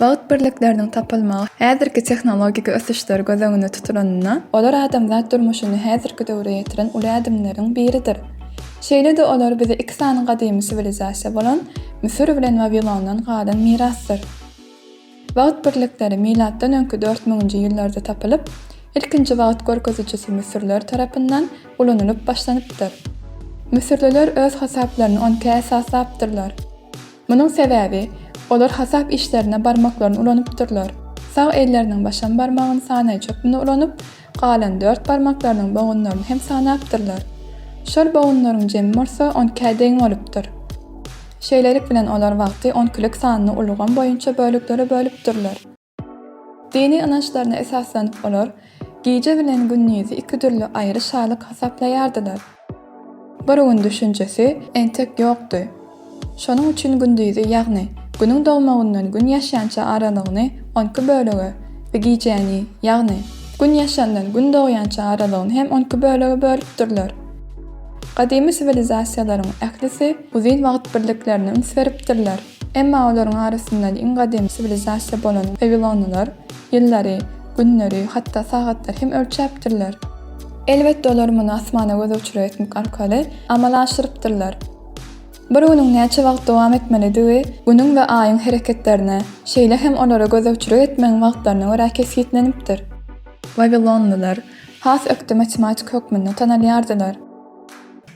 Bagt birlikleriniň tapylmagy häzirki tehnologik ösüşler göz öňünde tutulanda, olar adamzat durmuşyny häzirki döwre ýetiren uly ädimleriň biridir. Şeýle-de olar bize iki sany gadymy siwilizasiýa bolan Müsür bilen Wawilondan galan mirasdyr. Bagt birlikleri milatdan öňki dört müňünji ýyllarda tapylyp, ilkinji wagt görkezijisi müsürler tarapyndan ulanylyp başlanypdyr. Müsürliler öz hasaplaryny onka esaslapdyrlar. Munuň sebäbi, olar hasap işlerine barmaklaryny ulanypdyrlar. Sag elleriniň başam barmagyny sanaýjy hökmünde ulanyp, galan dört barmaklarynyň bogunlaryny hem sanapdyrlar. Şol bogunlaryň jemi bolsa on ikä deň bolupdyr. Şeýlelik bilen olar wagty on ikilik sanly ulgam boýunça böleklere bölüpdirler. Dini ynançlaryna esaslanyp olar gije bilen gündizi iki dürli aýry şalyk hasaplaýardylar. Bir gün düşünjesi entek ýokdy. Şonuň üçin gündizi ýagny Günüň dogmagyndan Gün ýaşýança aralygyny on iki bölege we gijäni ýagny Gün ýaşandan Gün dogýança aralygyny hem on iki bölege bölüpdirler. Gadymy siwilizasiýalaryň ählisi uzyn wagt birliklerine üns beripdirler. Emma olaryň arasyndan iň gadymy siwilizasiýa bolan wawilonlylar ýyllary, günleri, hatda sagatlary hem ölçäpdirler. Elbetde, olar muny asmana göz uçury etmek arkaly amala aşyrypdyrlar. Bir günüň näçe wagt dowam etmelidigi Günüň we Aýyň hereketlerine, şeýle hem olara gözegçilik etmegiň wagtlaryna görä kesgitlenipdir. Wawilonlylar has ökde matematiki hökmünde tanalýardylar.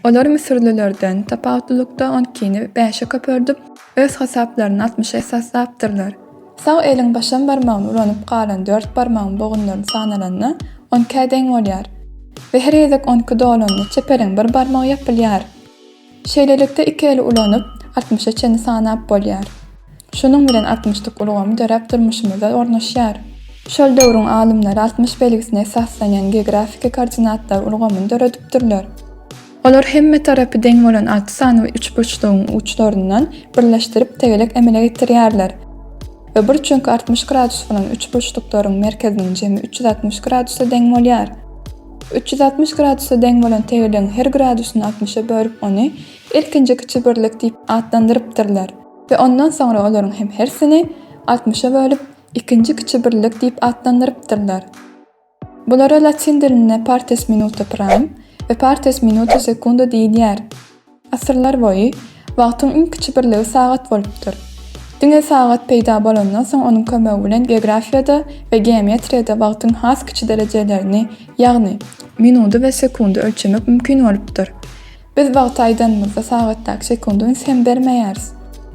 Olar müsürlilerden tapawutlylykda on ikini bäşe köperdip, öz hasaplaryny altmyşa esaslapdyrlar. Sag eliň başam barmagyny ulanyp galan dört barmagyň bogunlary sanalanda, on ikä deň bolýar we her gezek on iki dolanda çep eliň bir barmagy ýapylýar. Şeýlelikde, iki eli ulanyp, altmyşa çenli sanap bolýar. Şunuň bilen altmyşlyk ulgamy döräp durmuşymyzda ornaşýar. Şol döwrüň alymlary altmyş belgisine esaslanýan geografiki koordinatlar ulgamyny döredipdirler. Olar hemme tarapy deň bolan alty sany üçburçlugyň uçlaryndan birleşdirip tegelek emele getirýärler we bir çünki altmyş gradus bolan üçburçluklaryň merkeziniň jemi üç ýüz altmyş gradusa deň bolýar. Üç ýüz altmyş gradusa deň bolan tegelegiň her gradusyny altmyşa bölüp ony ilkinji kiçi birlik diýip atlandyrypdyrlar. We ondan soňra olaryň hem hersini altmyşa bölüp, ikinji kiçi birlik diýip atlandyrypdyrlar. Bulara latyn dilinde partes minuta prime we partes minuta secunda diýilýär. Asyrlar boýy wagtyň iň kiçi birligi sagat bolupdyr. Diňe sagat peýda bolandan soň onuň kömegi bilen geografiýada we geometriýada wagtyň has kiçi derejelerini, ýagny, minudy we sekundy ölçemek mümkin bolupdyr. Biz wagty aýdanymyzda sagatdaky sekundy üns hem bermeýäris.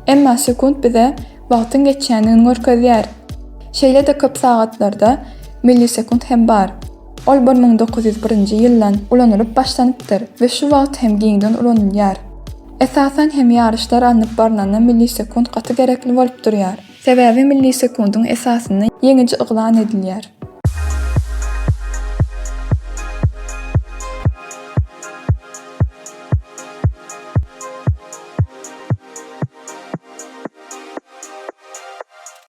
Emma sekunt bize wagtyň geçýändigini görkezýär. Şeýle-de köp sagatlarda millisekunt hem bar. Ol bir müň dokuz ýüz birinji ýyldan ulanylyp başlanypdyr we şu wagt hem giňden ulanylýar. Esasan hem ýaryşlar alnyp barylanda millisekunt gaty gerekli bolup durýar. Sebäbi millisekundyň esasynda ýeňiji yglan edilýär.